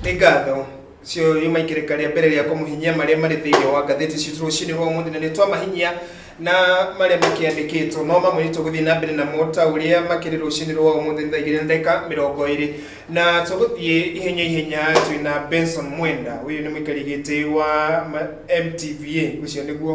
nĩ ngatho cio yuma ikĩrĩka rĩa mbere rĩa kũmũhinyia marĩa marĩ thĩinĩ wa ngathĩti citũ rũcinĩ rwa ũmũthĩ na nĩ twamahinyia na marĩa makĩandĩkĩtwo no mamwe nĩtũgũthiĩ na mbere namo ta ũrĩa makĩrĩ rũcinĩ rwa ũmũthĩ thaa igĩrĩ na ndagĩka mĩrongo ĩrĩ na tũgũthiĩ ihenya ihenya twĩna benson mwenda ũyũ nĩ mũikari gĩtĩ wa ma- mtva ũcio nĩguo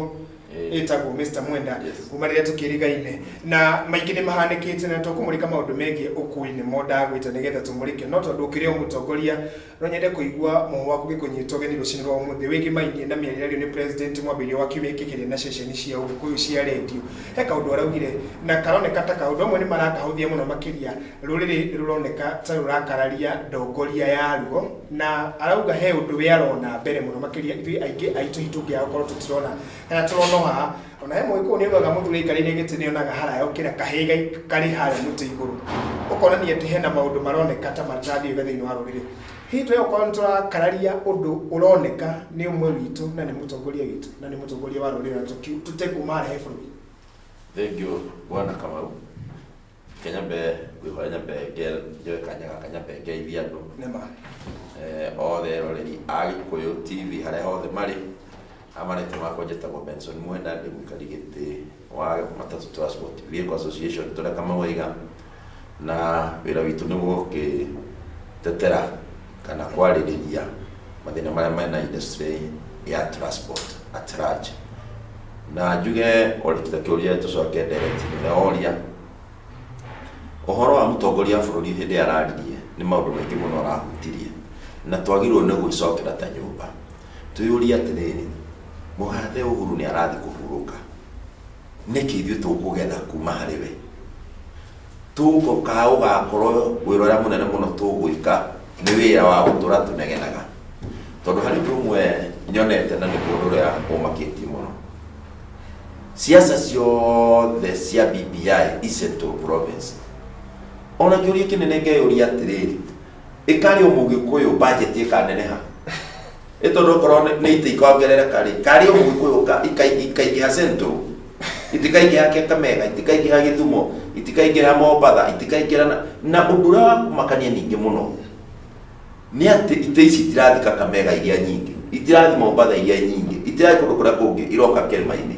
Eh. ĩtagwo mr mwenda Yes. kuma rĩrĩa tũkĩrigaine na maingĩ nĩ mahanĩkĩte na tũkũmũrĩka maũndũ megiĩ ũkui-inĩ mo ndagwĩte nĩgetha tũmũrĩke no tondũ ũkĩrĩ o mũtongoria no nyende kũigua mũhũ waku gĩkũnyitwo geni rũcinĩ rwa ũmũthĩ wĩgiĩ mainie na mĩario ĩrario nĩ president mwambĩrĩrio wa kiumia gĩkĩ kĩrĩa na ceceni cia ũgĩkũyũ cia redio he kaũndũ araugire na karoneka ta kaũndũ amwe nĩ marakahũthia mũno makĩria rũrĩrĩ nĩ rũroneka ta rũrakararia ndongoria yaruo na arauga he undu we arona mbere muno makiria ithui aingi aitu hitungiaga korwo tutirona kana turona haha ona he mugiku ni onaga muthuri aikarire giti ni onaga haraya ukira kahiga kari haria muti iguru ukonania ati hena maundu maroneka ta matathi wega thiini wa ruriri hihi twe okorwo niturakararia undu uroneka ni umwe witu na ni mutongoria witu na ni mutongoria wa ruriri na tutekuma harahe bururi Thank you, Bwana Kamau. kenya mbe ngwĩhoya nyambe nge- njoe kanya gaka nyambe ngeithie andũ nĩma eh, othe eroreri a gĩkũyũ tv harĩa hothe marĩ amarĩtũ makwa njĩtagwo benson mwenda ndĩ mũikari gĩtĩ wa matatũ transport vehicle association tũrĩa kamau aiga na wĩra witũ nĩ gũkĩtetera kana kwarĩrĩria mathĩna marĩa mena industry ya transport at large na njuge orĩkita kĩũria tũcoke direct nĩ oria ũhoro wa mũtongoria wa bũrũri hĩndĩ ĩrĩa araririe nĩ maũndũ maingĩ mũno arahutirie na twagĩrĩirwo nĩ gwĩcokera ta nyũmba twĩyũrie atĩrĩrĩ mũgathe ũhuru nĩ arathiĩ kũhurũka nĩkĩ ithuĩ tũkũgetha kuma harĩ we tũũko kaa ũgakorwo wĩra ũrĩa mũnene mũno tũgwĩka nĩ wĩra wa gũtũra tũnegenaga tondũ harĩ ũndũ ũmwe nyonete na nĩ mũndũ ũrĩa ũmakĩtie mũno ciaca ciothe cia BBI i Central Province ona kĩũria kĩnene ngeyũria atĩrĩrĩ ĩkarĩ ũmũgĩkũyũ bajeti ĩkaneneha ĩ tondũ okorwo nĩ- nĩ ita ikongerereka rĩ karĩ ũmũgĩkũyũ ka- ikai- ikaingĩha central itikaingĩha kekamega itikaingĩha gĩthumo itikaingĩha mombatha itikaingĩha na- na ũndũ ũrĩa wakumakania ningĩ mũno nĩ atĩ ita ici itirathi kakamega iria nyingĩ itirathi mombatha iria nyingĩ itirathi kũndũ kũrĩa kũngĩ iroka kĩrĩma-inĩ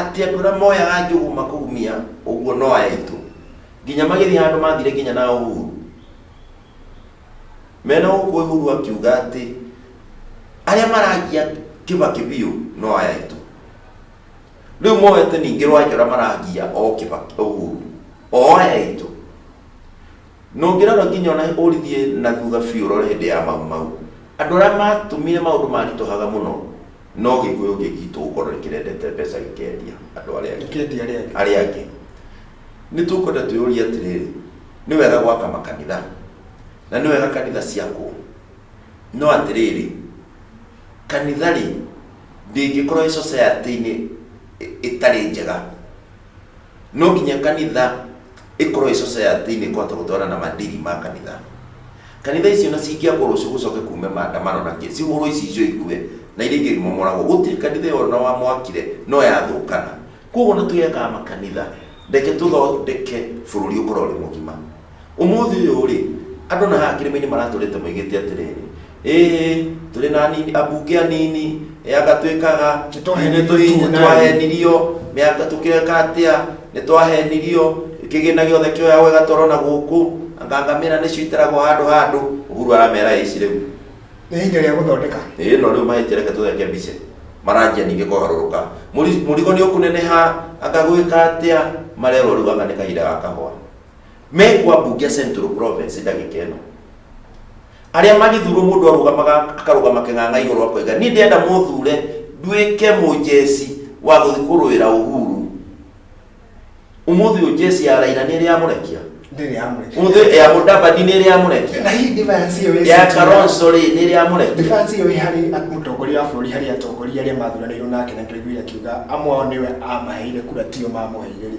atĩ andũ arĩa moyaga njũgũ makũgumia ũguo no aya aitũ nginya magĩthiĩ handũ mathire nginya na ũhuru mena gũkũ ũhuru akiuga atĩ arĩa marangia kĩbakĩ biũ no aya aitũ rĩu moete ningĩ rwanjora marangia o kĩbakĩ ũhuru o aya aitũ na ũngĩrora nginya ona ũrithie na thutha biũ ũrore hĩndĩ ya mau mau andũ arĩa matumire maũndũ maritũhaga mũno no gĩkũyũ ũngĩ gitũ gũkorwo nĩ kĩrendete mbeca gĩkendia andũ arĩa angĩ Gĩkendia arĩa angĩ. arĩa angĩ nĩ tũkwenda twĩyũrie atĩrĩrĩ nĩ wega gwaka makanitha na nĩ wega kanitha ciakwo no atĩrĩrĩ kanitha rĩ ndĩngĩkorwo ĩ society-inĩ ĩ- ĩtarĩ njega no nginya kanitha ĩkorwo ĩ society nĩ kũhota gũtwarana na mandiri ma kanitha kanitha icio na cingĩakwo rũciũ gũcoke kume maandamano na kĩ cihũrwo ici icio ikue na iria ingĩ imomoragwo gũtirĩ kanitha ĩyo na wamwakire no yathũkana koguo na twĩyakaga makanitha reke tũthondeke bũrũri ũkorwo ũrĩ mũgima Ũmũthĩ ũyũ-rĩ, andũ na haha kĩrĩma-inĩ maratũrĩte moigĩte atĩrĩrĩ, ĩĩ tũrĩ na anini, ambunge anini, anga twĩkaga, Nĩtwahenirio nĩ- tũnene." nĩtwahenirio, mĩaka tũkĩreka atĩa, nĩtwahenirio, kĩgĩna gĩothe kĩoyagwo gĩgatwarwo na gũkũ, anga ngamĩra nĩcio itaragwo handũ handũ. Uhuru aramera ĩĩ ici rĩu. Nĩ ihinda rĩa gũthondeka. Ĩĩ no rĩu mahĩtia reke tũtheke mbica. Maranjia ningĩ kũgarũrũka. Mũri- Mũrigo nĩũkũneneha, anga gwĩka atĩa, marerwo rĩu gaka nĩ kahinda ga kahũa. me kwa Bugia Central Province ndagika ĩno arĩa magĩthurwo mũndũ arũgamaga akarũgama kĩng'ang'a igũrũ akoiga niĩ ndĩenda mũthure nduĩke mũjeci wa gũthiĩ kũrũĩra Uhuru ũmũthĩ ũyũ jeci ya Raila nĩ ĩrĩ yamũrekia ndĩrĩ yamũrekia ũmũthĩ ya Mudavadi nĩ ĩrĩ yamũrekia na hihi defiance ĩyo ya ĩcitira- Kalonzo rĩ nĩ ĩrĩ yamũrekia defiance ĩyo ĩ harĩ at- mũtongoria wa bũrũri harĩ atongoria arĩa mathuranĩirwo nake na twaiguire akiuga amwe ao nĩwe amaheire kura tio mamũheire rĩ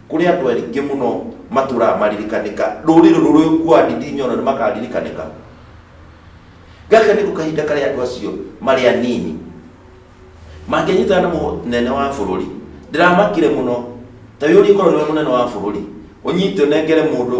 Kũrĩ andũ aingĩ mũno matũũraga maririkanĩka. Rũrĩrĩ rũrũ rũkuaga ndindinya ona nĩmakarirĩkanĩka. Gaka nĩko kahinda karĩa andũ acio marĩ anini mangĩnyitana na mũnene wa bũrũri. Ndĩramakire mũno. Ta wĩyũrie korwo nĩwe mũnene wa bũrũri, ũnyite ũnengere mũndũ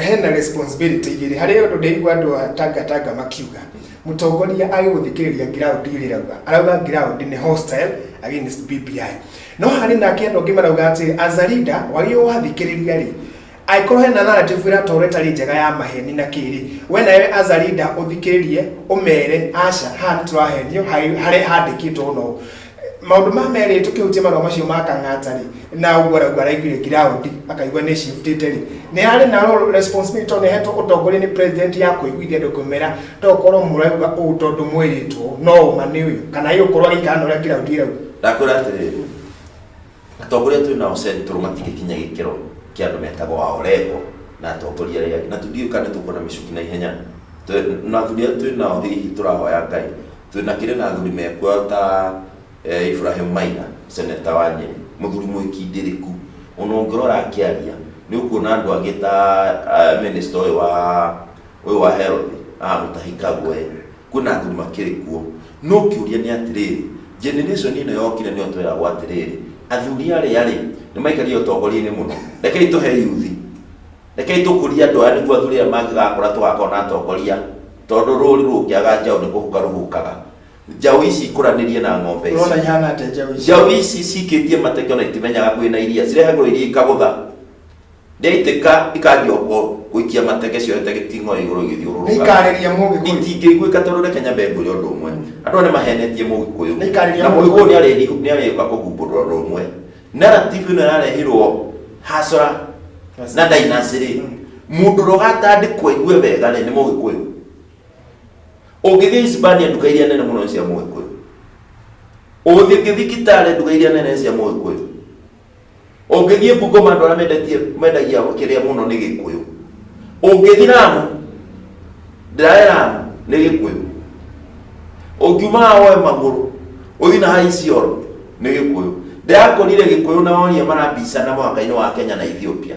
hena responsibility igĩrĩ harĩ ũndũ ndĩigua andũ a tanga tanga makiuga mũtongoria agĩ gũthikĩrĩria ground igĩrĩ rauga arauga ground nĩ hostile against BBI no harĩ nake andũ angĩ marauga atĩ as a leader wagĩ wathikĩrĩria rĩ angĩkorwo hena narrative ĩratwarwo ĩtarĩ njega ya maheni na kĩrĩ we nawe as a leader ũthikĩrĩrie ũmere aca haha nĩ tũrahenio harĩ handĩkĩtwo ũna ũũ maundu ma meri tukihutia marua macio ma kang'ata ri na uguo aragu araiguire ground akaigua ni shiftite ri ni ari na ro responsibility to nehetwo utongoria ni president ya kuiguithia andu kumera to korwo murauga u tondu mwiritwo no uma ni uyu kana iyo korwo agikana uria ground irauga ndakwira atiriri Atongoria twĩ nao Central matingĩkinya gĩkĩro kĩa andũ metagwo a Orengo na atongoria arĩa angĩ na tũtiũĩ kana nĩ tũkuona mĩcuki na ihenya Tũ- na athuri arĩa twĩ nao hihi tũrahoya Ngai twĩ na kĩrĩ na athuri mekuoyo ta eh, Ibrahim Maina seneta wa Nyeri mũthuri mwĩkindĩrĩku ona ũngĩrora akĩaria nĩ ũkuona andũ angĩ ta ah, minister ũyũ wa ũyũ wa health ah, Mutahi Kagwe kwĩna andũ makĩrĩ kuo. No kĩũria nĩ atĩrĩrĩ, generation ĩno yokire nĩyo tweragwo atĩrĩrĩ, athuri arĩa-rĩ, nĩmaikarire ũtongoria-inĩ mũno. Rekei tũhe yuthi, rekei tũkũrie andũ aya nĩguo athuri aya mangĩgakũra tũgakorwo na atongoria, tondũ rũri rũngĩaga njaũ nĩ kũhuka rũhukaga. Njaũ ici ikũranĩrie na ng'ombe ici. Ũrona ihana atĩa njaũ ici? Njaũ ici cikĩtie mateke ona itimenyaga kwĩna iria, cirehagĩrwo iria ikagũtha. Nĩaitĩka ikanjia ũkũrũ gũikia mateke ciorete gĩting'o igũrũ igĩthiũrũrũka. Nĩikarĩria Mũgĩkũyũ. Itingĩiguĩka tondũ reke nyambe ngũrĩe ũndũ ũmwe. Andũ aya nĩmahenetie Mũgĩkũyũ. Nĩikarĩria Na Mũgĩkũyũ Mũgĩkũyũ. nĩarĩri- nĩarĩũka kũhumbũrũra ũndũ ũmwe. Narrative ĩno yarehirwo Hasra na Ndinasirĩ. Mũndũ ũrĩa ũgatandĩkwo aigue wega-rĩ nĩ Mũgĩkũyũ. Ũngĩthiĩ Hispania nduka iria nene mũno nĩ cia Mũgĩkũyũ. Ũgũthiĩ thibitarĩ nduka iria nene nĩ cia Mũgĩkũyũ. ũngĩthiĩ bungoma andũ arĩa mendetie mendagia kĩrĩa mũno nĩ gĩkũyũ ũngĩthiĩ ramu ndĩrae ramu nĩ gĩkũyũ ũngiuma haha woe magũrũ ũthiĩ na haha isioro nĩ gĩkũyũ ndĩrakũrire gĩkũyũ na woria marabicana mũhaka-inĩ wa kenya na ethiopia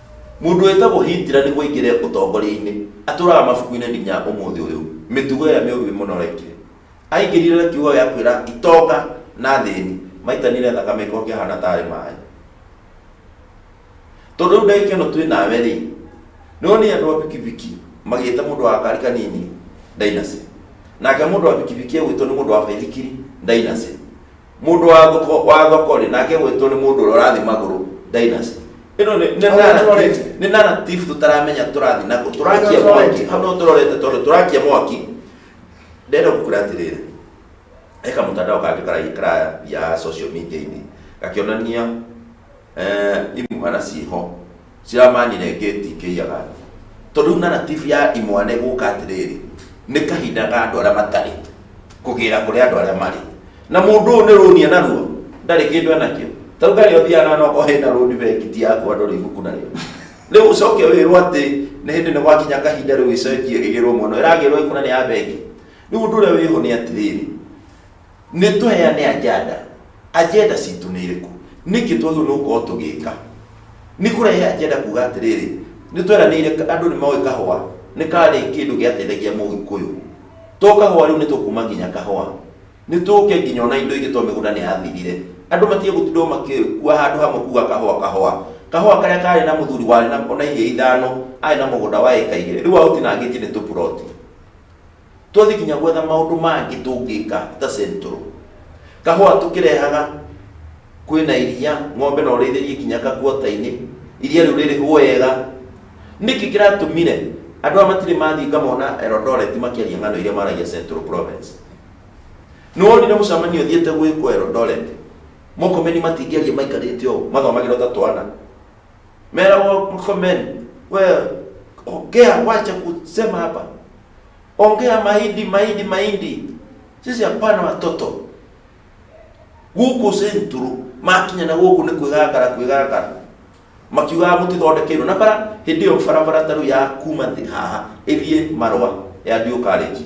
Mũndũ wĩtagwo Hitler nĩguo aingĩre ũtongoria-inĩ, atũũraga mabuku-inĩ nginya ũmũthĩ ũyũ. Mĩtugo ĩrĩa mĩũru ĩ mũno arekire. Aingĩrire na kiugo gĩa kwĩra itonga na athĩni maitanire thakame gĩkorwo kĩahana ta arĩ maĩ. Tondũ rĩu ndagĩka ĩno twĩ nawe rĩ, nĩ wonire andũ a bikibiki magĩĩta mũndũ wa gakari kanini ndainacĩ. Nake mũndũ wa bikibiki egwĩtwo nĩ mũndũ wa baithikiri ndainacĩ. mũndũ wa thoko wa thoko rĩ nake gwĩtwo nĩ mũndũ ũrĩa ũrathiĩ magũrũ dynasty ĩno nĩ- nĩ Hau narrative- tũrorete. nĩ narrative tũtaramenya tũrathiĩ nako tũrakia Hau mwaki tũrorete. hau no tũrorete tondũ tũrakia mwaki ndenda gũkura atĩrĩrĩ he kamũtandao kangĩ karaikaraya ya social media-inĩ gakĩonania eh, imwana ciĩho ciramanyire ngeti ikĩiyaga thĩ tondũ rĩu narrative ya imwana ĩgũka atĩrĩrĩ nĩ kahinda ga andũ arĩa matarĩ kũgĩra kũrĩ andũ arĩa marĩ na mũndũ ũyũ nĩ rũni enaruo ndarĩ kĩndũ enakĩo tarĩu ngarĩ ũthiaga na noko hena rũni bengiti yaku andũ rĩ ibuku narĩo rĩu ũcoke wĩrwo atĩ nĩ hĩndĩ nĩ gwakinya kahinda rĩu ĩcenjie ĩgĩrwo mũno ĩragĩrwo ĩkuna nĩ ya bengi rĩu ũndũ ũrĩa wĩho nĩ atĩrĩrĩ nĩ tũheane ajanda ajenda citũ nĩ ĩrĩkũ nĩkĩ twagĩrĩirwo nĩ gũkorwo tũgĩka nĩ kũrehe ajenda kuga atĩrĩrĩ nĩ tweranĩire andũ nĩ moĩ kahũa nĩ karĩ kĩndũ gĩateithagia mũgĩkũyũ to kahũa rĩu nĩ tũkuma nginya kahũa nĩ tũke nginya ona indo ingĩ to mĩgũnda nĩ yathirire andũ matige gũtindwo makĩkua handũ hamwe kuga kahũa kahũa kahũa karĩa karĩ na mũthuri warĩ na ona iria ithano arĩ na mũgũnda wa ĩka igĩrĩ rĩu aũtinangĩtie nĩ tũburoti Twathiĩ nginya gwetha maũndũ mangĩ tũngĩka ta central. Kahũa tũkĩrehaga kwĩna iria, ng'ombe no ũrĩithĩrie nginya kakuota-inĩ, iria rĩu rĩrĩhwo wega. Nĩkĩ kĩratũmire andũ aya matirĩ mathiĩ ngamona Eldoret makĩaria ng'ano iria maragia central province? Nĩwonire mũcemanio ũthiĩte gwĩkwo Eldoret? Mũrkomen matingĩaria maikarĩte ũũ mathomagĩrwo ta twana? Mera wa Murkomen, wewe ongea, wacha kusema hapa, ongea mahindi, mahindi, mahindi. Sisi hapana watoto guku centuru makinya na guku ni kwigangara kwigangara makiugaga mũtithondekeirwo na bara hĩndĩ ĩyo barabara tarĩu ya kuma thĩ haha ĩthiĩ marwa ya ndiũ karĩnji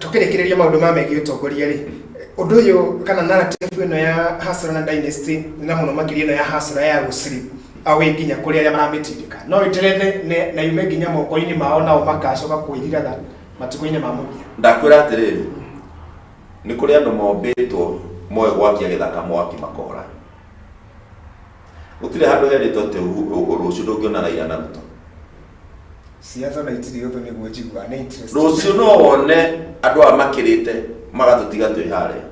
tũkĩrĩkĩrĩria maũndũ ma megiĩ ũtongoria rĩ ũndũ ũyũ kana narrative ĩno ya hasra na dynasty na mũno makĩria ĩno ya hasra ya gũciri awĩ nginya kũrĩ arĩa maramĩtindĩka no ĩterethe ne- na yume nginya moko-inĩ mao nao makacoka kwĩriraga matukũ-inĩ ma mũthia ndakwĩra atĩrĩrĩ nĩ kũrĩ andũ mombĩtwo moĩ gwakia gĩthaka mwaki makora gũtirĩ handũ herĩtwo atĩ ũhu- ũ- ũ- rũciũ ndũngĩona raira na ruto ciaca na itirĩ ũthũ nĩguo njiguaga nĩ interest. rũciũ no wone andũ aya makĩrĩte magatũtiga twĩ harĩa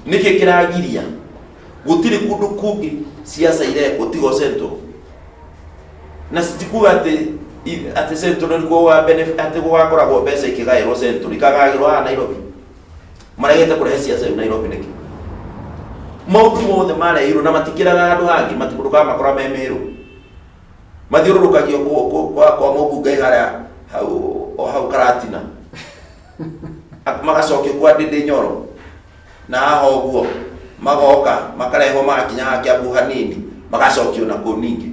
nĩkĩ kĩragiria gũtirĩ kũndũ kũngĩ ciaca irekwo tigo central na citikuga atĩ i- atĩ central nĩkuo gũga benefit- atĩ gũgakoragwo mbeca ikĩgaĩrwo central ikagagĩrwo haha nairobi marehete kũrehe ciaca yu nairobi nĩkĩ maũndũ mothe mareirwo na matikĩraga andũ hangĩ mati- ndũkamakora me mĩrũ mathiũrũrũkagio kũ- kũ- kwa kwa mũmbungai harĩa hau o hau karatina Ak- magacokio kwa ndĩndĩ nyoro na haha ũguo magoka makarehwo magakinya haha kĩambu hanini magacokio na kũu ningĩ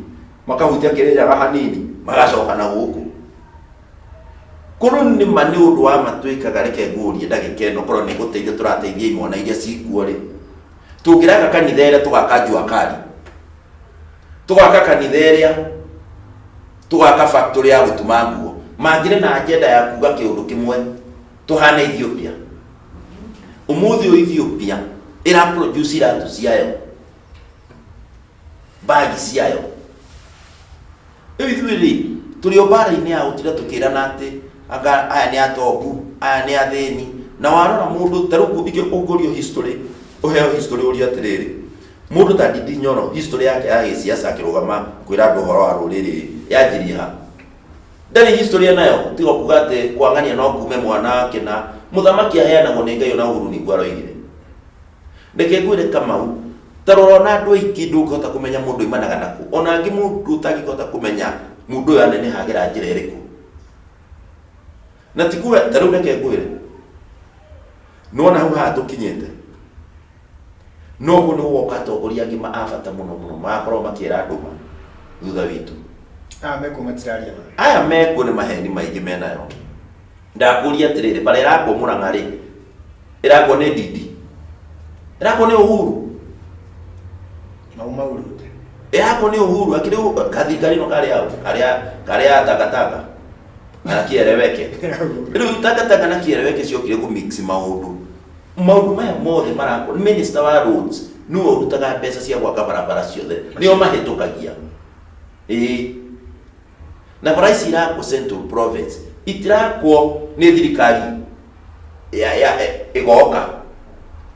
makahutia kĩrĩnyaga hanini magacoka na gũkũ Korwo nĩ ma nĩ ũndũ wa ma twĩkaga, reke ngũrie ndagĩka ĩno korwo nĩ gũteithia tũrateithia imwana iria cikuo-rĩ, tũngĩraka kanitha ĩrĩa tũgaka Jua Kali, tũgaka kanitha ĩrĩa, tũgaka factory ya gũtuma nguo, mangĩrĩ na agenda ya kuga kĩũndũ kĩmwe tũhane Ethiopia? Ũmũthĩ ũyũ Ethiopia ĩra produce iratũ ciayo, bag ciayo. Rĩu ithuĩ-rĩ, tũrĩ o mbaara-inĩ ya gũtinda tũkĩrana atĩ anga aya nĩ atongu, aya nĩ athĩni. Na warora mũndũ, ta rĩu ũngĩ- ũngĩũrio history, ũheo history ũrio atĩrĩrĩ, mũndũ ta Ndindi Nyoro history yake ya gĩciaca akĩrũgama kwĩra andũ ũhoro wa rũrĩrĩ-ĩ, yanjirie ha? Ndarĩ history e nayo, tiga o kuuga atĩ kũang'ania no kuume mwana wa kĩna, mũthamaki aheanagwo nĩ Ngai, o na Uhuru nĩguo aroigire. Reke ngwĩre Kamau, ta rora ona andũ aingĩ ndũngĩhota kũmenya mũndũ aimanaga na kũ. Ona angĩ mũndũ ũtangĩhota kũmenya mũndũ ũyũ aneneha agera njĩra ĩrĩkũ. Na ti kuga, ta rĩu reke ngwĩre, nĩwona hau haha tũkinyĩte, no ũguo nĩguo gũgoka atongoria angĩ ma a bata mũno mũno magakorwo makĩra andũ ma thutha witũ. Aya mekuo matiraria ma. Aya mekuo nĩ maheni maingĩ menayo. Ndakũũria atĩrĩrĩ, bara ĩrakwo Mũrang'a-rĩ, ĩrakwo nĩ Ndindi? Ĩrakwo nĩ Uhuru? Mau mau rute. Ĩrakwo nĩ Uhuru, akĩrĩ Uhuru, kathirikari-ĩno karĩ hau, karĩa, karĩa takataka, na kĩereweke. Rĩu takataka na kĩereweke ciokire kũ mix maũndũ. Maũndũ maya mothe marakwo, minister wa roads, nĩwe ũrutaga mbeca cia gwaka barabara ciothe, nĩo mahĩtũkagia. Ĩĩ. na bara ici irakwo central province itirakwo nĩ thirikari ya ya ĩgoka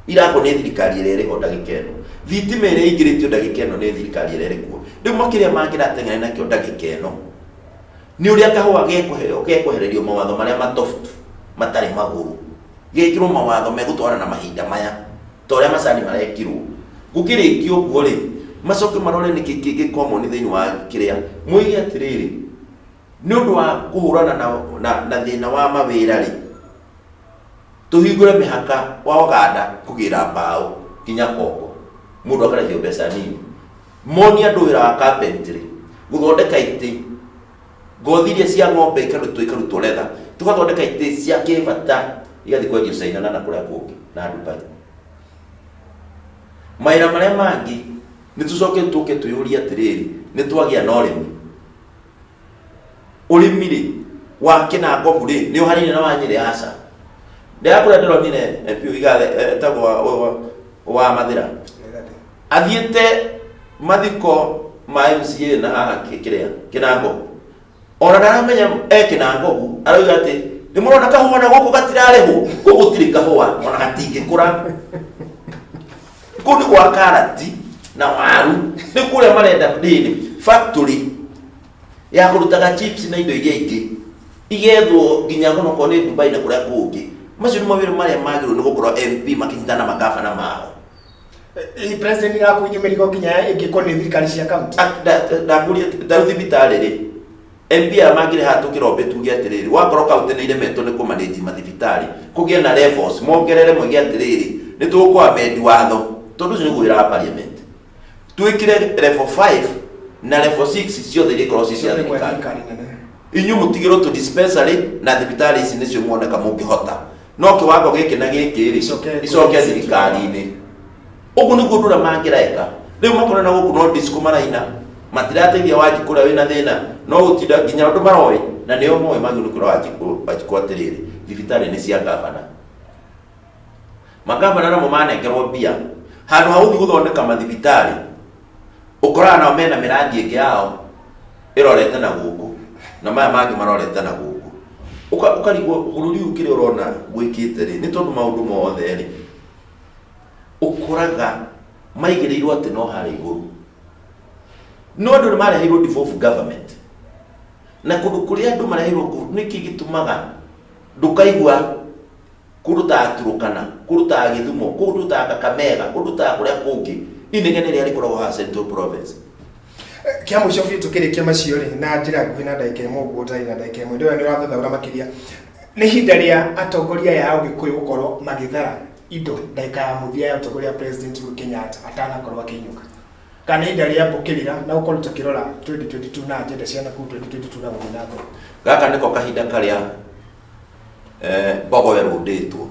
irakwo nĩ thirikari ĩrĩa ĩrĩho ndagĩka ĩno thitima ĩrĩa ĩingĩrĩtio ndagĩka ĩno nĩ thirikari ĩrĩa ĩrĩkuo rĩu makĩria mangĩrateng'ere nakĩo ndagĩka ĩno nĩ ũrĩa kahũa gekũheo gekwehererio mawatho marĩa matoftu matarĩ magũrũ gekĩrwo mawatho megũtwarana na mahinda maya ta ũrĩa macani marekirwo gũkĩrĩkia ũguo rĩ macoke marore nĩkĩ kĩngĩ common thĩinĩ wa kĩrĩa moige atĩrĩrĩ nĩ ũndũ wa kũhũrana na, na, na thĩna wa mawĩra rĩ tũhingũre mĩhaka wa oganda kũgĩra mbaũ nginya kongo mũndũ akarĩhio mbeca nini monie andũ wĩra wa carpentry gũthondeka itĩ ngothi iria cia ng'ombe ikarutwo ikarutwo letha tugathondeka itĩ cia kĩbata igathiĩ kwendio caina na na kũrĩa kũngĩ na dubai mawĩra marĩa mangĩ nĩ tũcoke tũke twĩyũrie atĩrĩrĩ nĩ twagĩa na ũrĩmi ũrĩmi rĩ wa kĩnangobu rĩ nĩ ũhanaine na wa nyĩrĩ aca ndĩrakũrĩa ndĩronire mpu igathe etagwo wa- wa- wa mathĩra athiĩte mathiko ma mca na haha kĩ- kĩrĩa kĩnango ona ndaramenya e kĩnangogu arauga atĩ nĩ mũrona kahũa na gũkũ gatirarĩhwo kũ gũtirĩ kahũa ona gatingĩkũra kũndũ gwa karati na waru nĩ kũrĩa marenda rĩrĩ factory ya kũrutaga chips na indo iria ingĩ igethwo nginya mũno korwo nĩ dubai na kũrĩa kũngĩ macio nĩ mawĩra marĩa magĩrĩirwo nĩ gũkorwo mp makĩnyitana na magavana mao Hihi president ĩrakuithia mĩrigo nginya ĩngĩkorwo nĩ thirikari cia kaunti ndakuria ndau thibitarĩ rĩ mbia mangĩrĩ haha tũkĩrombe tuge atĩrĩrĩ wakorwo kaunti nĩ iremetwo nĩ kũmanĩji mathibitarĩ kũgĩe na levels mongerere moige atĩrĩrĩ nĩ tũkũamendi watho tondũ ũcio nĩguo wĩra wa parliament twĩkĩre level 5 na level 6 ciothe iria ikorwo ci cia thirikari inyuĩ mũtigĩrwo tũ dispensary na thibitarĩ ici nĩcio muoneka mũngĩhota no kiwango giki na giki ri Icoke- icoke thirikari-ini uguo niguo ndura mangireka riu makona na guku no disco maraina matirateithia wanjiku uria wina thina no gutinda nginya andu maroi na nio moe maguru kura wanjiku wanjiku atiriri thibitari ni cia gavana magavana namo manengerwo mbia handu ha guthi guthondeka mathibitari ũkoraga nao mena mĩrangi ĩngĩ yao ĩrorete na gũkũ na maya mangĩ marorete na gũkũ Ũka- ũkarigwo bũrũri ũyũ kĩrĩa ũrona gwĩkĩte rĩ nĩ tondũ maũndũ mothe rĩ ũkoraga maigĩrĩirwo atĩ no harĩa igũrũ no andũ nĩ mareheirwo devolve government na kũndũ kũrĩa andũ mareheirwo kũ- nĩkĩ gĩtũmaga ndũkaigua kũrutaga Turukana, kũrutaga Gĩthumo, kũrutaga Kakamega, kũrutaga kũrĩa kũngĩ. Inegene rĩrĩa rĩkoragwo haha Central Province. kĩa mũico biũ tũkĩrĩkia macio rĩ na njĩra nguhĩ na ndagĩka ĩmwe ũguo ũtarĩ na ndagĩka ĩmwe ndĩwe nĩ ũrathathaũra makĩria nĩ ihinda rĩa atongoria aya a ũgĩkũyũ gũkorwo magĩthara indo ndagĩka ya mũthia ya ũtongoria wa president Uhuru Kenyatta atanakorwo akĩinũka kana nĩ ihinda rĩa gũkĩrĩra na gũkorwo tũkĩrora 2022 na agenda cia nakuu 2022 na gũthiĩ na mbere Gaka nĩko kahinda karĩa Eh, mbogo ĩrũndĩtwo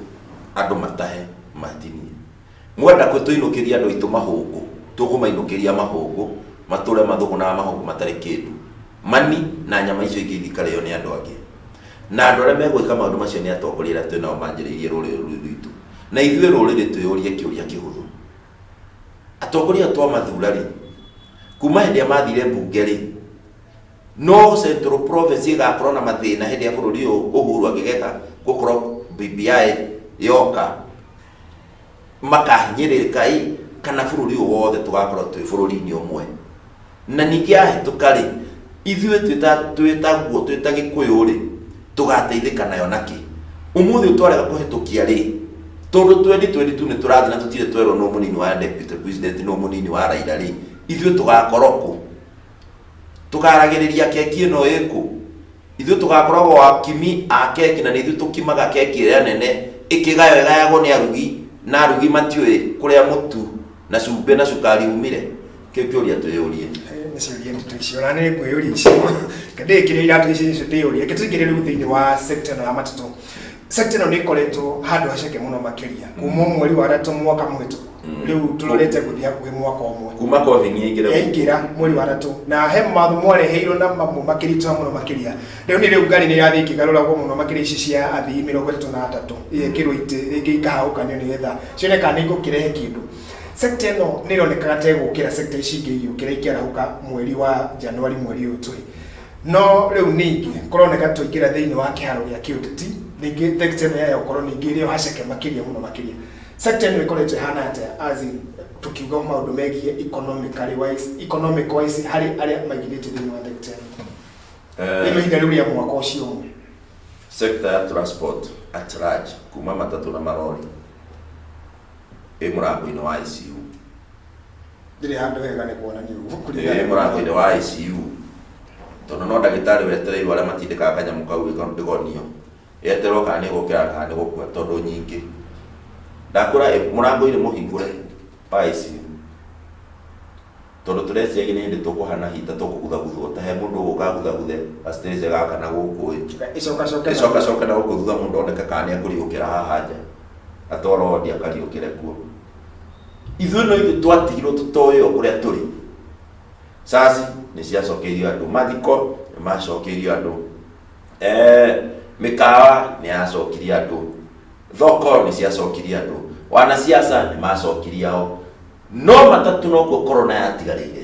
andũ matahe matinie mwenda kwĩ tũinũkĩria andũ aitũ mahũngũ tũkũmainũkĩria mahũngũ matũre mathũgũnaga mahũngũ matarĩ kĩndũ mani na nyama icio ingĩ ithikarĩo nĩ andũ angĩ na andũ arĩa megwĩka maũndũ macio nĩ atongoria arĩa twĩ nao manjĩrĩirie rũrĩrĩ rũu rwitũ na ithuĩ rũrĩrĩ twĩyũrie kĩũria kĩhũthũ atongoria aya twamathura rĩ kuma hĩndĩ ĩrĩa mathire mbunge rĩ No Central Province ĩgakorwo na mathĩna hĩndĩ ya bũrũri ũyũ Uhuru angĩgeka gũkorwo BBI yoka makahinyĩrĩrĩka ĩ kana bũrũri ũyũ wothe tũgakorwo twĩ bũrũri-inĩ ũmwe na ningĩ yahĩtũka rĩ ithuĩ twĩta- twĩtaguo twĩta gĩkũyũ rĩ tũgateithĩka nayo nakĩ ũmũthĩ twarega kũhĩtũkia rĩ tondũ 2022 nĩ tũrathiĩ na tũtirĩ twerwo nũ mũnini wa deputy president nũ mũnini wa raira rĩ ithuĩ tũgakorwo kũ tũkaragĩrĩria keki ĩno ĩkũ ithuĩ tũgakoragwo akimi a keki na nĩ ithuĩ tũkimaga keki ĩrĩa nene ĩkĩgayo ĩgayagwo nĩ arugi na arugi matiũĩ kũrĩa mũtu na cumbĩ na cukari umire kĩu kĩũria twĩyũrie nĩ ciũria nditũ icio na nĩ ngwĩyũria icio ndĩkĩrĩa iratũ icio icio ndĩyũria kĩtũingĩre rĩu thĩinĩ wa sekta ĩno ya matatũ sector ĩno nĩ ĩkoretwo handũ haceke mũno makĩria kuma mweri wa gatatu mwaka mũhĩtũku rĩu tũrorete gũthiĩ hakuhĩ mwaka ũmwe kuma covid yaingĩra yaingĩra mweri wa gatatu na he mawatho mwareheirwo na mamwe makĩritũha mũno makĩria rĩu nĩ rĩu ngari nĩ ĩrathiĩ ĩkĩgarũragwo mũno makĩria ici cia athii mĩrongo ĩtatũ na atatũ igekĩrwo itĩ rĩngĩ ikahagũkanio nĩgetha cione kana nĩ igũkĩrehe kĩndũ sekta ĩno nĩ ĩronekaga ta ĩgũkĩra sekta ici ingĩ igĩũkĩra ikĩarahũka mweri wa januari mweri ũyũ tũrĩ no rä u ningä kåroneka twaingä ingĩra thĩinĩ wa kĩharo gĩa kĩũteti ningĩ thekita ĩno ya ũkoro ningĩ ĩrĩ o haceke makĩria mũno makĩria sekta ĩno ĩkoretwo ĩhana atĩa azi tũkiuga maũndũ megiĩ economically wise economic wise harĩ arĩa maigithĩtie thĩinĩ wa thekita ĩno thĩinĩ ihinda rĩu rĩa mwaka ũcio ũmwe sekta ya transport at large kuma matatũ na marori ĩ mũrango-inĩ wa ICU ndirĩ handũ hega nĩ kuonania ũguo Eh, kũringana mũrango-inĩ wa ICU tondũ no ndagĩtarĩ wetereirwo arĩa matindĩkaga kanyamũ kau ĩga- ndĩgonio yeterwo kana nĩ gũkĩra kana nĩ gũkua tondũ nyingĩ ndakũra ĩ, mũrango-inĩ mũhingũre wa ICU tondũ tũreciagia nĩ hĩndĩ tũkũhana hita tũkũguthaguthwo ta he mũndũ ũgũkaguthaguthe gacitĩrĩce gaka na gũkũ ĩ icoka coka ĩcoka coka na gũkũ thutha mũndũ oneke kana nĩ ekũriũkĩra haha nja atwarwo wondi akariũkĩre kuo ithuĩ no ithuĩ twatigirwo tũtoĩ o kũrĩa tũrĩ caci nĩ ciacokeirio andũ mathiko nĩ macokeirio andũ Eh, mĩkawa nĩ yacokirie andũ thoko nĩ ciacokirie andũ wanasiasa nĩ macokirie ao no matatũ nokuo korona yatigarĩire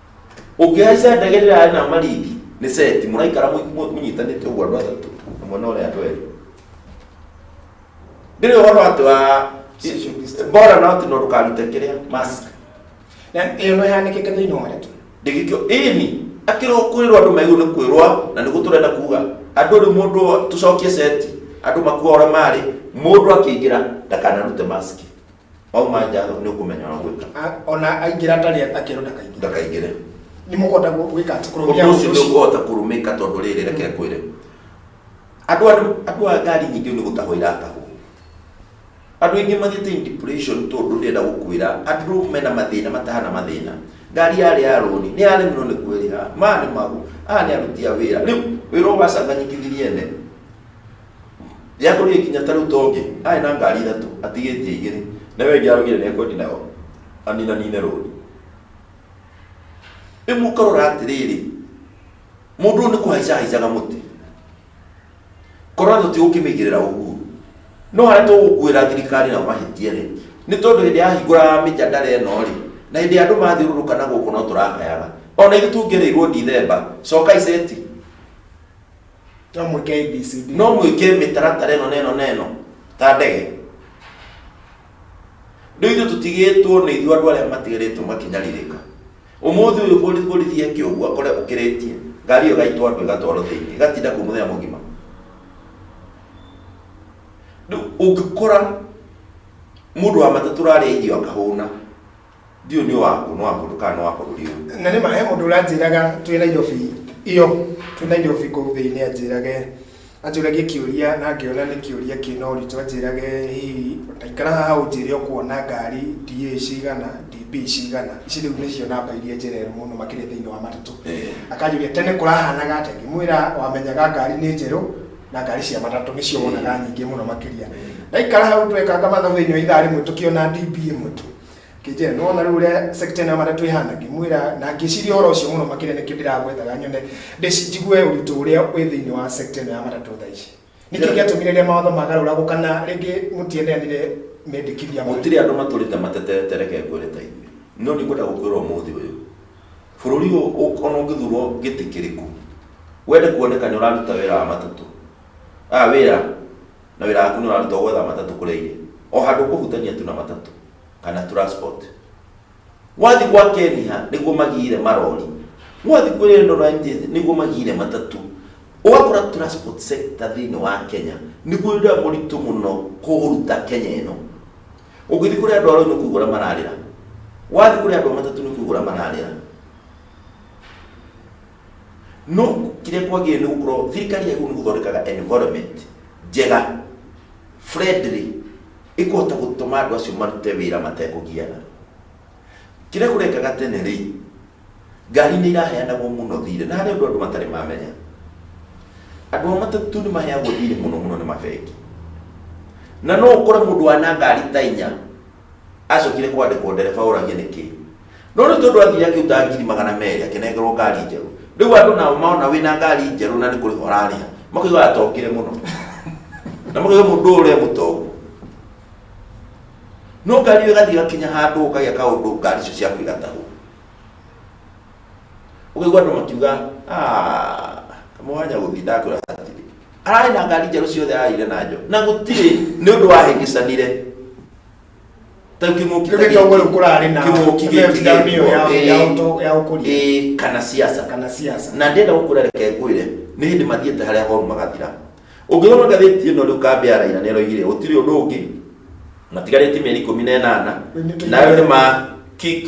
ũngĩhaica ndege ĩrĩa yarĩ na maringi nĩ seti mũraikara mũi- mũ- mũnyitanĩte ũguo andũ atatũ ũmwe na ũrĩa andũ erĩ ndĩrĩ ũhoro atĩ wa Social distance. bora na atĩ no ndũkarute kĩrĩa mask na ĩyo no yanĩkĩte thĩinĩ wa ndeto ndĩgĩkĩo ĩni akĩrwo kwĩrwo andũ maigũ nĩ kwĩrwa na nĩguo tũrenda kuga andũ rĩ mũndũ tũcokie seti andũ makua ũrĩa marĩ mũndũ akĩingĩra ndakanarute maski Wauma nja nĩ ũkũmenya wa gwĩka. A- ona aingĩra atarĩ akĩrwo ndakaingĩra Ndakaingĩre. nĩ mũkũhota gũ- gwĩka atĩ kũrũmia Ũndũ ũcio ũndũ nĩ ũcio ũkũhota kũrũmĩka tondũ rĩrĩ reke kwĩre. Andũ andũ andũ a ngari nyingĩ nĩ gũtahwo iratahwo. Andũ aingĩ mathiĩte in depression tondũ ndĩrenda gũkwĩra andũ mena mathĩna matahana mathĩna. Ngari yarĩ ya rũni, nĩ yaremirwo nĩ kwĩrĩha, maya nĩ magu, aya nĩ aruti a wĩra. Rĩu wĩra ũyũ wacanganyikithirie ene, Yatũrire kinya tarĩu tongi arĩ na ngari ithatũ atigĩtie igĩrĩ na ĩyo ĩngĩ araugire nĩ ekwendi nayo aninanine rũni. Rĩu mũkarora atĩrĩrĩ, mũndũ ũyũ nĩ kũhaica ahaicaga mũtĩ. Korona tũtigũkĩmĩigĩrĩra ũguo. No harĩa tũgũkuĩra thirikari na mahĩtia rĩ, nĩ tondũ hĩndĩ yahingũra mĩjadara ĩno rĩ, na hĩndĩ andũ mathiũrũrũka na gũkũ no tũrakayaga. Ona ithuĩ tũngĩereirwo Ndithemba, cokai seti. No mwĩke ABCD. no mwĩke mĩtaratara ĩno na ĩno na ĩno ta ndege rĩu ithuĩ tũtigĩtwo nĩ ithuĩ andũ arĩa matigarĩtwo makinyarirĩka ũmũthĩ ũyũ borithi borithi eke ũguo akore ũkĩrĩtie ngari ĩyo gaitwa andũ ĩgatwarwo thĩinĩ ĩgatinda kũ mũthenya mũgima rĩu ũngĩkora mũndũ wa matatũ rarĩa irio akahũna Ndiũ nĩ waku nĩ wa mũndũ kana nĩ wa bũrũri ũyũ. Na nĩ ma he mũndũ ũranjĩraga twĩ Nairobi iyo twĩ Nairobi kũu thĩinĩ anjĩrage anjũragie kĩũria na ngĩona nĩ kĩũria kĩna ũritũ anjĩrage hihi ikara haha ũnjĩre ũkuona ngari DA cigana DB cigana ici rĩu nĩcio namba iria njereru mũno makĩria thĩinĩ wa matatũ Eh. akanjũria tene kũrahanaga atĩa ngĩmwĩra wamenyaga ngari nĩ njerũ na ngari cia matatũ nĩcio wonaga nyingĩ mũno makĩria ndaikara hau twekanga mathabu thĩinĩ wa ithaa rĩmwe tũkĩona DB ĩmwe tu Kĩnjĩra, nĩ wona rĩu ũrĩa sekta ĩno ya matatũ ĩhana, ngĩmwĩra na ngĩciria ũhoro ũcio mũno makĩria nĩkĩo ndĩragwethaga nyone ndĩci- njigue ũritũ ũrĩa wĩ thĩinĩ wa sekta ĩno ya matatũ thaa ici nĩkĩ Yeah. gĩatũmire rĩrĩa mawatho magarũragwo kana rĩngĩ mũtiendeanire mendekithia ma- gũtirĩ andũ matũrĩte matetete reke ngwĩre ta ithuĩ no nĩ ngwenda gũkwĩra ũmũthĩ ũyũ bũrũri ũyũ ũ- ona ũngĩthurwo gĩtĩ kĩrĩkũ wende kuoneka nĩ ũraruta wĩra wa matatũ a wĩra na wĩra waku nĩ ũrarutwo gwetha matatũ kũrĩa irĩ o handũ kũhutania tu na matatũ kana transport wathi gwa keniha nĩguo magire marori wathi kwĩ rendo na NTSA nĩguo magire matatũ ũgakora transport sector thĩinĩ wa kenya nĩguo ũrĩa mũritũ mũno kũruta kenya ĩno ũngĩthiĩ kũrĩ andũ aroi nĩ kũigua ũrĩa mararĩra wathi kũrĩ andũ a matatũ nĩ kũigua ũrĩa mararĩra No kĩrĩa kwagĩrĩire nĩ gũkorwo thirikari yagĩrĩirwo nĩ gũthondekaga environment njega friendly ĩkũhota gũtũma andũ acio marute wĩra matekũgiana. Kĩrĩa kũrekaga tene rĩ, ngari nĩ iraheanagwo mũno thirĩ na harĩ ũndũ andũ matarĩ mamenya. Andũ a matatũ nĩ maheagwo thirĩ mũno mũno nĩ mabengi. Na no ũkore mũndũ wa na ngari ta inya. Acokire kwandĩkwo ndereba ũragia nĩkĩ. No rĩu tondũ athire akĩruta ngiri magana merĩ akĩnengerwo ngari njerũ. Rĩu andũ nao mona wĩna ngari njerũ na nĩ kũrĩha ũrarĩha makaigua atongire mũno. Na makaigua mũndũ ũyũ ũrĩa mũtongu. No ngari ĩyo ĩgathiĩ ĩgakinya handũ ũkagĩa kaũndũ ngari icio ciaku igatahwo. Ũkaigua andũ makiuga "Ah, kamũhanya gũthiĩ ndakwĩra hatirĩ." ararĩ na ngari njerũ ciothe araire na njo na gũtirĩ nĩ ũndũ wahĩngĩcanire ta kĩng'ũki ta Kĩu gĩtongore gĩkĩ. kũrarĩ na Kĩng'ũki gĩkĩ mĩtaro nĩyo ya- gĩkwo, ya ĩĩ, ũto- ya ũkũria ĩĩ, kana siasa kana siasa na ndenda gũkũra reke ngwĩre nĩ hĩndĩ mathiĩte harĩa horu magathira ũngĩthoma ngathĩti ĩno rĩu kambe ya raira nĩ ĩroigire gũtirĩ ũndũ ũngĩ matigarĩtie mĩeri ikũmi na ĩnana Nĩ tũigana. nayo nĩ ma kick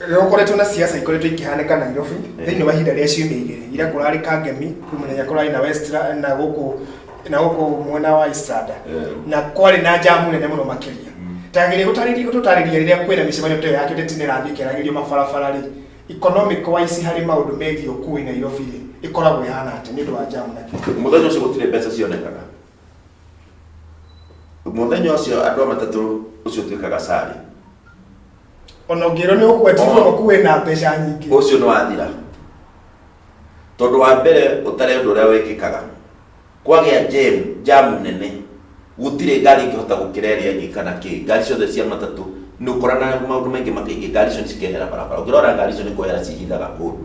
Rĩrĩa ũkoretwo na ciaca ikoretwo ikĩhanĩka Nairobi thĩinĩ wa ihinda rĩa ciumia igĩrĩ ira kũrarĩ Kangemi kwĩ mũthenya kũrarĩ na Westra na gũkũ na gũkũ mwena wa Estrada na kwarĩ na njamu nene mũno makĩria tagĩrĩ gũtarĩria gũtũtarĩria rĩrĩa kwĩna mĩcemanio ta ĩyo ya kĩũteti nĩ ĩrathiĩ ĩkĩaragĩrio mabarabara rĩ economic wise harĩ maũndũ megiĩ ũkui Nairobi rĩ ĩkoragwo ĩhana atĩa nĩ ũndũ wa njamu na kĩĩ. Mũthenya ũcio gũtirĩ mbeca cionekaga. mũthenya ũcio andũ a matatũ ũcio ũtuĩkaga sarĩ ona ũngĩrwo nĩ ũkwenjirwo Oh. ũkuwe na mbeca nyingĩ ũcio nĩ wathira tondũ wa mbere ũtarĩ ũndũ ũrĩa wĩkĩkaga kwagĩa jam jamu nene gũtirĩ ngari ingĩhota gũkĩra ĩrĩa ĩngĩ kana kĩ ngari ciothe cia matatũ nĩ ũkorana maũndũ maingĩ makaingĩ ngari icio nĩ cikehera barabara ũngĩrora ngari icio nĩ kwehera cihithaga kũndũ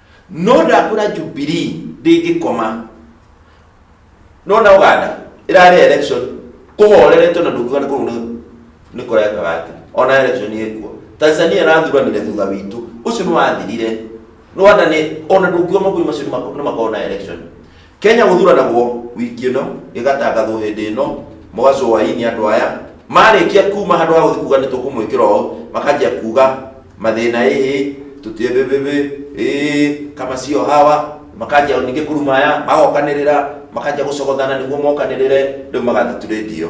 no ndakwĩra jubilee ndĩngĩkoma no na ũganda ĩrarĩ election kũhoreretwo na ndũkiuga nĩ kũrũ nĩ- nĩ kũreka gati ona election ĩkuo tanzania ĩrathuranire thutha witũ ũcio nĩ wathirire rwanda nĩ ona ndũkiuga makuyu macio nĩ mako- nĩ makona election Kenya gũthuranagwo wiki ĩno gĩgatangathwo hĩndĩ ĩno mũgacwo waini andũ aya marĩkia kuma handũ ha gũthiĩ kuga nĩ tũkũmwĩkĩra ũũ makanjia kuga mathĩna ĩhĩ tũtiĩbĩbĩbĩ ĩĩ kama sio hawa makanjia ningĩ kũrumaya magokanĩrĩra makanjia gũcogothana nĩguo mokanĩrĩre rĩu magatha tũrĩndio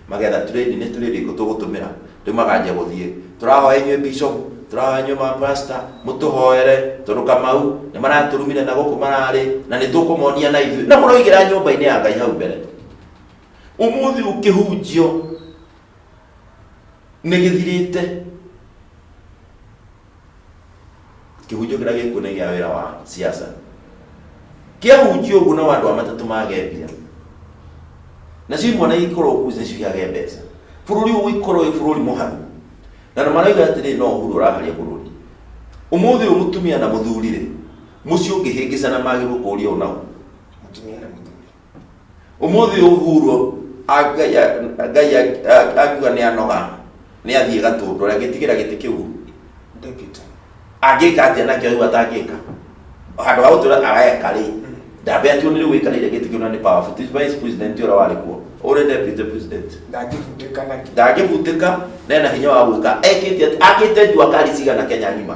Magetha trade nĩ trade irĩkũ tũgũtũmĩra? Rĩu makanjia gũthiĩ. Tũrahoya inyuĩ bishop, tũrahoya inyuĩ ma pastor, mũtũhoere, tondũ Kamau nĩ maratũrumire na gũkũ mararĩ, na nĩ tũkũmonia na ithuĩ. Na mũroigĩra nyũmba-inĩ ya Ngai hau mbere. Ũmũthĩ ũkĩhunjio nĩ gĩthirĩte. kĩhunjio kĩrĩa gĩkuo nĩ gĩa wĩra wa siasa kĩahunjio ũguo nao andũ a matatũ mage mbia nacio imwe na ikorwo kuu nacio iage mbeca bũrũri ũyũ ũikorwo wĩ bũrũri mũhanu na nĩ marauga atĩrĩ no ũhuru ũraharia bũrũri ũmũthĩ ũyũ mũtumia na mũthuri-rĩ mũciĩ ũngĩhĩngĩcana magĩrwo kũũria ũnao Mũtumia na mũthuri. Ũmũthĩ Uhuru Ngai a- Ngai a- a- akiuga nĩ anoga nĩ athiĩ gatũndũ angĩtigĩra gĩtĩ kĩu Deputy. angĩka atĩa nakĩo rĩu atangĩka handũ ha gũtũra areka rĩ ndambe atuo nĩ rĩu wĩkarĩire gĩtĩ kĩu na nĩ powerful Ti vice president ũrĩa warĩ kuo ũrĩ deputy president Ndangĩbutĩka nakĩ. ndangĩbutĩka na ena hinya wa gwĩka ekĩte akĩte njua kari cigana kenya ng'ima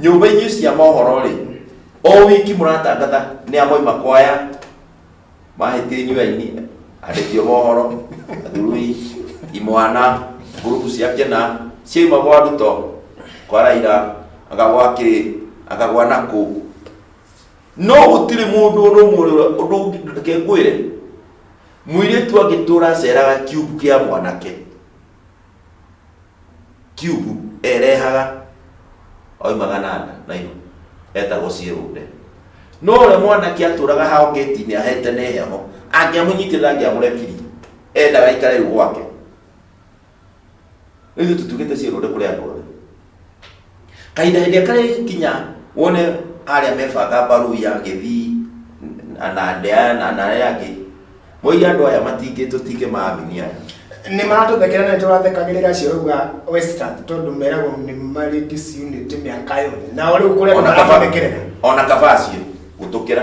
nyũmba-inĩ cia mohoro rĩ o wiki mũratangatha nĩ amoima kwaya mahĩtie nyuaini andĩkio mohoro athurui imwana ngurubu cia kĩna ciaima gwa ruto kwa raira akagwa kĩ akagwa na kũ no gũtirĩ mũndũ ũndũ ũmwe ũrĩa- ũndũ ũngĩ- reke ngwĩre mũirĩtu angĩtũra aceraga kiubu kĩa mwanake kiubu erehaga oimaga na nda na ihu etagwo ciĩrũnde no ũrĩa mwanake atũraga hao ngĩti-inĩ ahete nĩ heho angĩamũnyitire ndangĩamũrekirie endaga aikare rĩu gwake rĩu tũtugĩte ciĩrũnde kũrĩ andũ othe kahinda hĩndĩ ĩrĩa karĩ kinya wone arĩa mebanga mbaru ya gĩthii na- na ndea na na arĩa angĩ moige andũ aya matingĩ tũtingĩ maaminia nĩ maratũthekera na nĩ tũrathekagĩrĩra acio rauga western tondũ meragwo nĩ marĩ disunity mĩaka yothe nao rĩu kũrĩa ona kaba- marathekera ona kabacio gũtũkĩra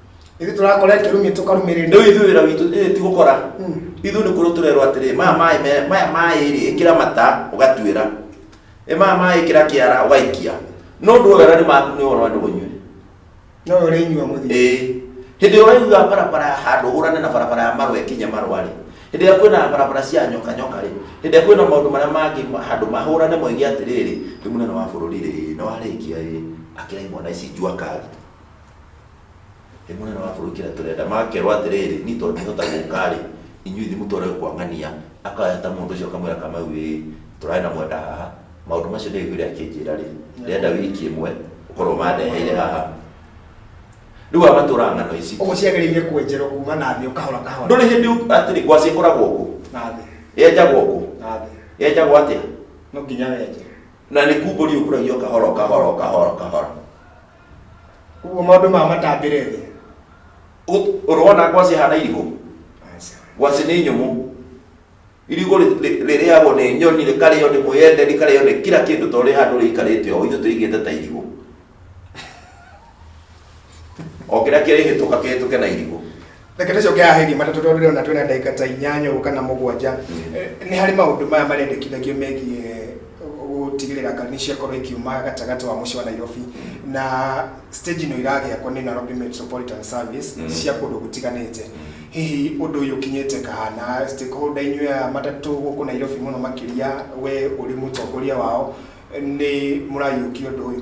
ithu turakora kirumi tukarumirira rĩu ithuĩ wĩra witũ ĩ, ti gũkora Mm. ithuĩ nĩ kũrũ tũrerwo atĩrĩ maya maĩ me- maya maĩ rĩ ĩkĩra mata ũgatuĩra ĩ maya maĩ ĩkĩra kĩara ũgaikia no ũndũ ũyũ nĩ maku nĩ wona andũ ũnyue no uri nyua muthi ĩ hĩndĩ ĩyo waiguga barabara ya handũ ũhũrane na barabara ya marwe kinya marwa rĩ hĩndĩ ĩrĩa kwĩna barabara cia nyoka nyoka rĩ hĩndĩ ĩrĩa kwĩna maũndũ marĩa mangĩ ma- handũ mahũrane moige atĩrĩrĩ rĩ mũnene wa bũrũri rĩ nĩ warĩkia rĩ akĩra imwana ici njua kari Ĩ mũnene wa bũrũri kĩrĩa tũrenda makerwo atĩrĩrĩ niĩ tondũ ndihota gũka-rĩ inyuĩ ithuĩ mũtware kwa ng'ania akoya ta mũndũ ũcio akamwĩra kamau ĩĩ tũrarĩ na mwenda haha maũndũ macio ndĩraiguire akĩnjĩra-rĩ ndĩrenda wiki ĩmwe ũkorwo ũmandeheire haha rĩu aya matũraga ng'ano ici Ũguo ciagĩrĩire kwenjerwo kuma na thĩ ũkahora kahora ndũrĩ hĩndĩ ũ- atĩrĩ ngwacĩ ĩkoragwo ũguo na thĩ yenjagwo ũguo na thĩ. yenjagwo atĩa No nginya wenje. na nĩ kumbũria ũkũragio kahora kahora kahora kahora Ũguo maũndũ ma matambĩre thĩ. Ũ- ũrona ngwacĩ hana irigũ Aca. ngwacĩ nĩ nyũmũ irigũ rĩ- rĩ- rĩrĩagwo nĩ nyoni rĩkarĩo nĩ mwĩyende rĩkarĩo nĩ kira kĩndũ to rĩ handũ rĩikarĩte o ithuĩ tũigĩte ta irigũ o kĩrĩa kĩrĩhĩtũka kĩhĩtũke na irigũ reke tũcokea hĩndĩ matatũ tondũ ndĩrona twĩna ndagĩka ta inyanya ũguo kana mũgwanja Eh, nĩ harĩ maũndũ maya marendekithagio megiĩ gũtigĩrĩra kana nĩ ciakorwo ikiuma gatagatĩ wa mũciĩ wa nairobi na stage ĩno iragĩakwo nĩ nairobi metropolitan service Mm. cia kũndũ gũtiganĩte hihi ũndũ ũyũ ũkinyĩte kahana stakeholder inyuĩ a matatũ gũkũ nairobi mũno makĩria we ũrĩ mũtongoria wao nĩ mũrayũkia ũndũ ũyũ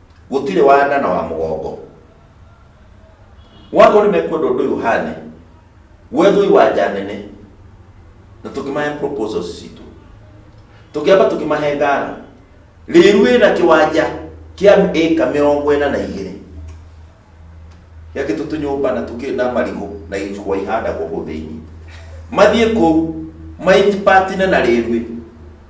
gũtirĩ wa nda na wa mũgongo wakorwo nĩ mekwenda ũndũ ũyũ ũhane gwethwo iwanja nene na tũkĩmahe proposals citũ tũkĩamba tũkĩmahe ngara rĩru ĩna kĩwanja kĩa ĩka mĩrongo ĩna na igĩrĩ gĩakĩtwo tũnyũmba na tũkĩ na marigũ na icua ihandagwo kũu thĩinĩ mathiĩ kũu maitipatine na rĩrwi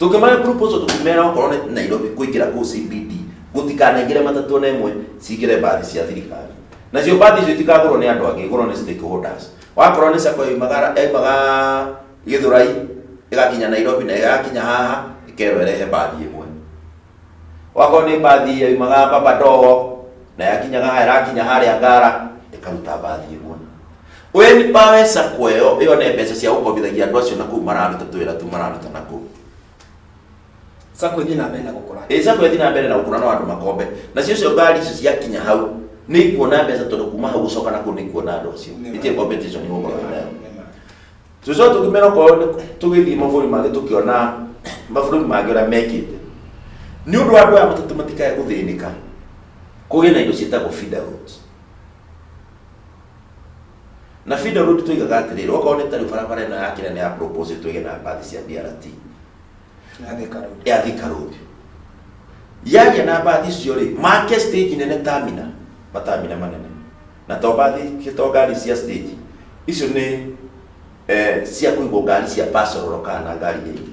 tũngĩmahe proposal tũkĩmera okorwo nĩ nairobi kũingĩra kũu cbd gũtikanaingĩre matatũ ona ĩmwe cingĩre mbathi cia thirikari nacio mbathi icio itikagũrwo nĩ andũ angĩ igũrwo nĩ stakeholders wakorwo nĩ sako yaumaga yaumaga gĩthũrai ĩgakinya nairobi na ĩgakinya haha ĩkerwo ĩrehe mbathi ĩmwe wakorwo nĩ mbathi yaumaga babadogo na yakinyaga haha ĩrakinya harĩa ngara ĩkaruta mbathi ĩmwe we ni pawe sacco ĩyo ĩyo nĩ mbeca cia gũkombithagia andũ acio na kũu mararuta twĩra tu mararuta na kũu sako ithiĩ na mbere na gũkũra ĩ sacco ĩthiĩ na mbere na gũkũra no andũ makombe na cio cio ngari icio ciakinya hau nĩ ikuona mbeca tondũ kuma hau gũcoka na kũu nĩ ikuona andũ acio Nĩ ma. itirĩ competition nĩ gũkorwo wĩ nayo tũcoka tũkĩmera okorwo nĩ- tũgĩthiĩ mabũrũri mangĩ tũkĩona mabũrũri mangĩ ũrĩa mekĩte nĩ ũndũ wa andũ aya matatũ matikae gũthĩnĩka kũgĩe na indo ciĩtagwo feed out na FIDA road tuigaga atĩrĩrĩ okorwo nĩ tarĩ barabara ĩno ya kĩrĩa nĩ ya propose twĩge na mbathi cia BRT ya Thika Road. ya Thika Road yagĩa na mbathi icio rĩ make stage nene tamina matamina manene na to mbathi to ngari cia stage icio nĩ eh, cia kũigwo ngari cia pasoro kana ngari iria ingĩ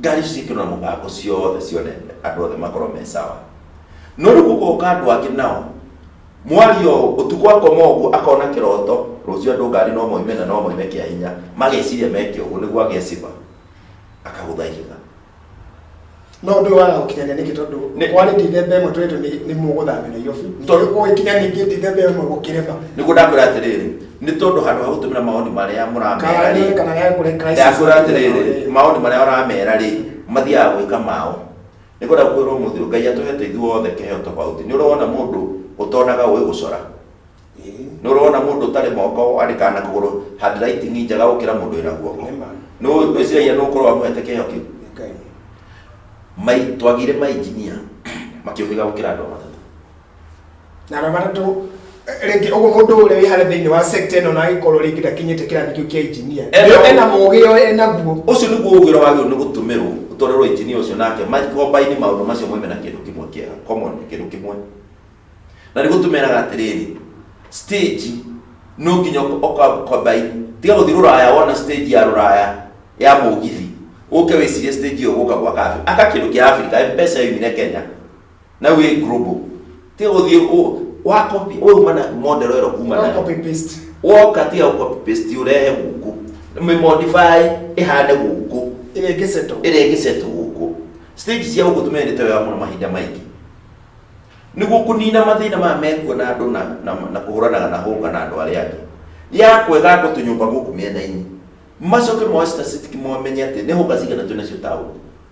ngari ciĩkĩrwo na mũbango ciothe cione andũ othe makorwo me sawa no rĩu gũgoka andũ angĩ nao mwaria ũũ ũtukũ akoma ũguo akona kĩroto rũciũ andũ ngari no moime na no moime kĩa hinya mageciria meke ũguo nĩguo ageciba akagũtha ihiga no ũndũ ũyũ waga gũkinyania nĩkĩ tondũ Nĩ- kwarĩ ndithemba ĩmwe tũrĩtũ nĩ mũgũthamĩra iyobi Tondũ- ũgĩkinya ningĩ ndithemba ĩmwe gũkĩrema nĩguo ndakwĩra atĩrĩrĩ nĩ tondũ handũ ha gũtũmĩra maoni marĩa mũramera Kana rĩ kana ya kũrĩ crisis. ndakwĩra atĩrĩrĩ maoni marĩa ũramera rĩ mathiaga gwĩka mao nĩ kwenda kwĩrwo mũthĩ ngai atũhete ithuothe kĩheo tofauti nĩ ũrona mũndũ ũtonaga ũĩ gũcora nĩ ũrona mũndũ ũtarĩ moko andĩkaga na kũgũrũ handwriting njega gũkĩra mũndũ wĩna guoko Nĩ ma. nĩ ũĩ- wĩciragia nĩ ũkorwo wamũhete kĩheo kĩu Ngai. mai twagire mainjinia makĩũhĩga gũkĩra andũ matatũ na araba to rĩngĩ ũguo mũndũ ũrĩa wĩ harĩa thĩinĩ wa sekta ĩno na agĩkorwo rĩngĩ ndakinyĩte kĩrathi kĩu kĩa injinia Ena- ena mũgĩ o enaguo ũcio nĩguo ũgĩra wagĩrĩirwo nĩ gũtũmĩrwo ũtwarĩrwo injinia ũcio nake makombaini maũndũ macio mwĩme na kĩndũ kĩmwe kĩega common kĩndũ kĩmwe na nĩ gũtũmeraga atĩrĩrĩ stage no nginya ũkombaini tiga gũthiĩ rũraya wona stage ya rũraya ya mũgithi ũke wĩcirie stage ĩyo gũka gwa kabi aka kĩndũ kĩa abirika mpesa yoimire kenya na wĩ global ti gũthiĩ ũ- wa copy we uma na model ĩro kuma No nayo copy paste. woka tiga gũ copy paste ũrehe gũkũ mĩmodify ĩhande gũkũ Ĩrĩa ĩngĩ settle. ĩrĩa ĩngĩcetwo gũkũ stage cia gũkũ tũmendete wega mũno mahinda maingĩ nĩguo kũnina mathĩna maya mekuo na andũ na, na, na kũhũranaga na hũnga na andũ arĩa angĩ ya kwega andũ tũnyũmba gũkũ mĩena-inĩ macoke moe statistic momenye atĩ nĩ hũnga cigana twĩ nacio taũni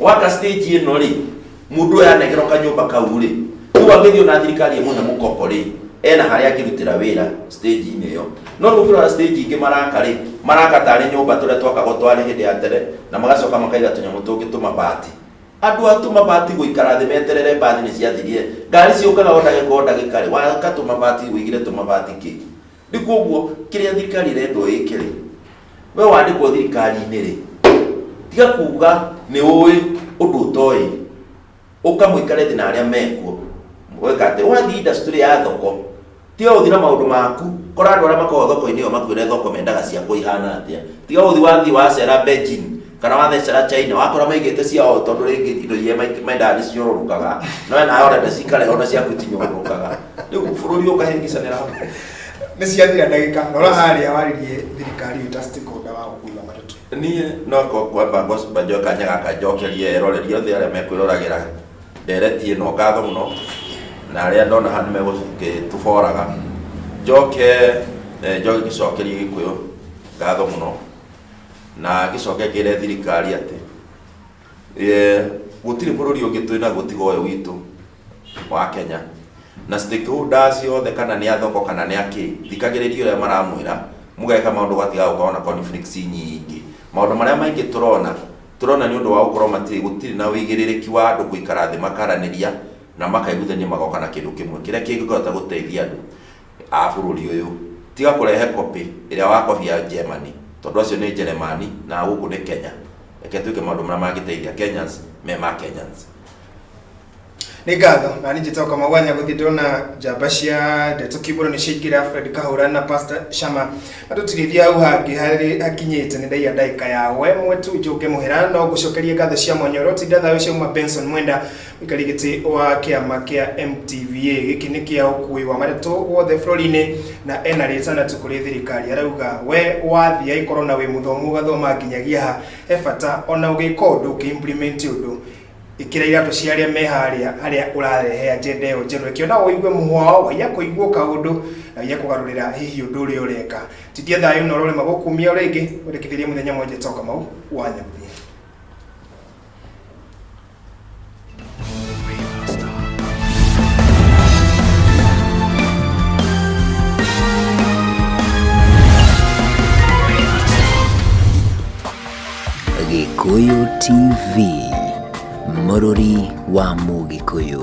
wata stage ĩno rĩ mũndũ ũyũ anegerwo kanyũmba kau rĩ rĩu angĩthiĩ ona thirikari ĩmũhe mũkombo rĩ ena harĩa angĩrutĩra wĩra stage-inĩ ĩyo no rĩu ũngĩrora stage ingĩ maraka rĩ maraka tarĩ nyũmba tũrĩa twakagwo twarĩ hĩndĩ ya tene na magacoka makaiga tũnyamũ tũngĩ tũmabati andũ a tũmabati gũikara thĩ meterere mbathi nĩ ciathirie ngari ciũkaga o ndagĩka o ndagĩka rĩ waka tũmabati wĩigire tũmabati kĩ Nĩ kwoguo kĩrĩa thirikari ĩrendwo ĩke rĩ, we wandĩkwo thirikari-inĩ rĩ, tiga kuuga nĩ ũĩ ũndũ ũtoĩ, ũka mũikare thĩ na arĩa mekuo, weka atĩ, wathiĩ industry ya thoko, tiga gũthiĩ na maũndũ maku, kora andũ arĩa makoragwo thoko-inĩ ĩyo makwĩre thoko mendaga ciakwa ihana atĩa, tiga gũthiĩ wathiĩ wacera Beijing. kana wathecera china wakora maigĩte ciao tondũ rĩngĩ indo iria maik- mendaga nĩ ciorũrũkaga no we nawe ũrenda cikare ona ciaku itinyorũrũkaga rĩu bũrũri ũkahĩngĩcanĩra hau nä ciathira ndagä ka nora harä a waririe thirikari ä ta stakeholder wa gå kuua matatå niä no ko- kwamba ngocimba njoe kanya gaka njokerie eroreria othe arä a mekwäroragä ndereti ä no ngatho må no na arä a ndona haha nä megåtå boraga njoke eh, njoke ngä cokerie gä kå yå ngatho må no na gĩcoke kĩre thirikari atĩ eh, gũtirĩ bũrũri ũngĩ twĩ naguo tiga ũyũ witũ wa Kenya na stakeholders ciothe kana nĩ athoko kana nĩ akĩ thikagĩrĩria ũrĩa maramwĩra mũgeka maũndũ gatiga gũkorwo na conflicts nyingĩ maũndũ marĩa maingĩ tũrona tũrona nĩ ũndũ wa gũkorwo matirĩ gũtirĩ na wĩigĩrĩrĩki wa andũ gũikara thĩ makaranĩria na makaiguithania magoka na kĩndũ kĩmwe kĩrĩa kĩngĩhota gũteithia andũ a bũrũri ũyũ, tiga kũrehe copy ĩrĩa wa copy ya Germany, tondũ acio nĩ Njeremani na gũkũ nĩ Kenya. Reke twĩke maũndũ marĩa mangĩteithia Kenyans me ma Kenyans. nĩ ngatho na nĩ njĩtoka magwanya gũthiĩ ndona njamba cia ndeto kiumbũro nĩ ciaingĩra fred kahũra na pastor shama na tũtirĩthiĩ hau hangĩ harĩ hakinyĩte nĩ ndaiya ndaika ya we mwetu njũke mũhera no ngũcokerie ngatho cia mwanya ũrĩa ũtinda thayũ ciauma benson mwenda Karigiti wa kiama kia MTVA giki ni kia ukui wa matetu wothe bururi-ini na ena ritanati kuri thirikari arauga we wathii aikorwo na wi muthomu ugathoma nginyagia ha he bata ona ugika undu uki implement undu ikira iratu cia aria me haria haria urarehe agenda iyo njeru ikiona woigue muhwao waiya kuigua kaundu na waiya kugarurira hihi undu uria ureka tidia thayu na urorema gukumia ringi urikithirie muthenya mwenje toka mau wanyaguthie Gĩkũyũ TV mũrũri wa Mũgĩkũyũ